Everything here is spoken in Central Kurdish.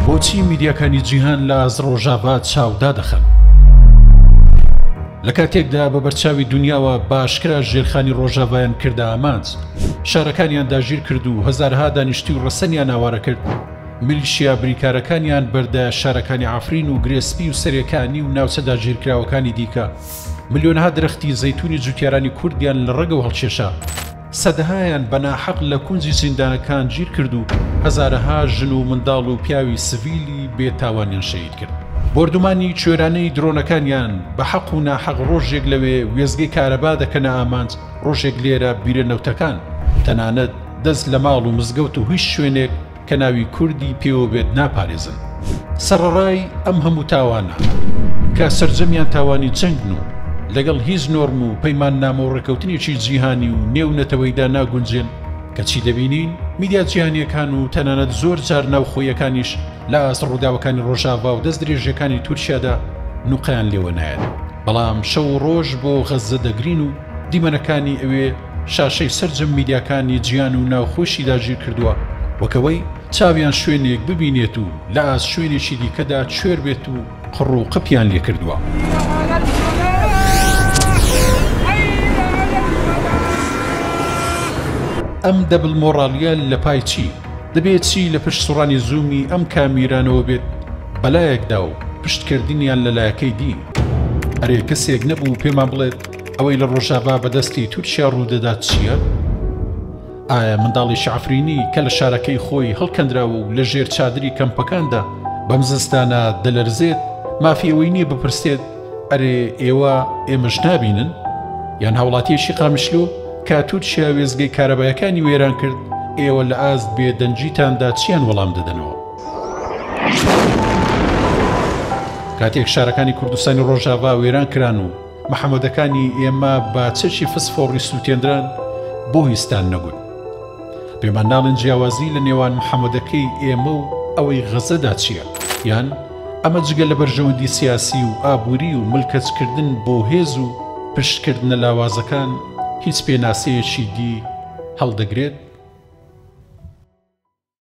بۆچی میدیاکانی جیهان لە ئاز ڕۆژاڤات چاودا دەخەن؟ لە کاتێکدا بە بەرچاوی دنیاوە باشکرا ژێرخانی ڕۆژاڤایان کردە ئامانج شارەکانیان داگیر کرد و هەزارها دانیشتی و ڕەسەنیان ئاوارە کرد ملیشیا بریکارەکانیان بەردە شارەکانی ئافرین و گرێسپی و سەرەکانی و ناوچە داگیرکراوەکانی دیکە ملیۆنها درەختی زەتونی جوتیارانی کوردیان لە ڕەگەوە هەڵکێشا سەدەهایان بە ناحەق لە کونجی زیندانەکان گیر کرد و هەزارەها ژن و منداڵ و پیاوی سڤیلی بێ تاوانیان شەهید کرد. بۆردومانی کوێرانەی درۆنەکانیان بە حەق و ناحەق ڕۆژێک لەوێ وێستگەی کارەبا دەکەنە ئامانج، ڕۆژێک لێرە بیرە نەوتەکان. تەنانەت دەست لە ماڵ و مزگەوت و هیچ شوێنێک کە ناوی کوردی پێوە بێت ناپارێزن. سەڕەڕای ئەم هەموو تاوانە کە سەرجەمیان تاوانی جەنگن و لەگەڵ هیچ نۆرم و پەیماننامە و ڕێکەوتنێکی جیهانی و نێو نەتەوەیدا ناگونجێن کە چی دەبینین میدیا جیهانیەکان و تەنانەت زۆر جار ناوخۆیەکانیش لە ئاست ڕووداوەکانی ڕۆژاڤا و دەست درێژەکانی تورکیادا نوقەیان لێوە نایەت بەڵام شەو و ڕۆژ بۆ غەززە دەگرین و دیمەنەکانی ئەوێ شاشەی سەرجەم میدیاکانی جیان و ناوخۆشی داگیر کردووە، وەک ئەوەی چاویان شوێنێک ببینێت و لە ئاست شوێنێکی دیکەدا کوێر بێت و قڕ و قپیان لێ کردووە. ئەم دەبل مۆڕالیە لە پای چی؟ دەبێ چی لە پشت سوڕانی زوومی ئەم کامیرانەوە بێت بە لایەکدا و پشتکردنیان لە لایەکەی دی؟ ئەرێ کەسێک نەبوو پێمان بڵێت ئەوەی لە ڕۆژاڤا بە دەستی تورکیا ڕوودەدات چییە؟ ئایا منداڵێکی عەفرینی کە لە شارەکەی خۆی هەڵکەندراوە و لە ژێر چادری کەمپەکاندا بەم زستانە دەلەرزێت مافی ئەوەی نییە بپرسێت ئەرێ ئێوە ئێمەش نابینن؟ یان هاوڵاتیەکی قامیشلۆ کە تورکیا وێزگەی کارەبایەکانی وێران کرد ئێوە لە ئاست بێدەنگیتاندا چیان وەڵام دەدەنەوە؟ کاتێک شارەکانی کوردستانی ڕۆژاڤا وێران کران و محەمەدەکانی ئێمە بە چەکی فسفۆڕی سووتێنران بۆ ویستان نەبوون. پێمان ناڵێن جیاوازی لە نێوان محەمەدەکەی ئێمە و ئەوەی غەزەدا چییە؟ یان ئەمە جگە لە بەرژەوەندی سیاسی و ئابووری و ملکەچکردن بۆ هێز و پشتکردنە لاوازەکان هیچ پێناسەیەکی دی هەڵدەگرێت؟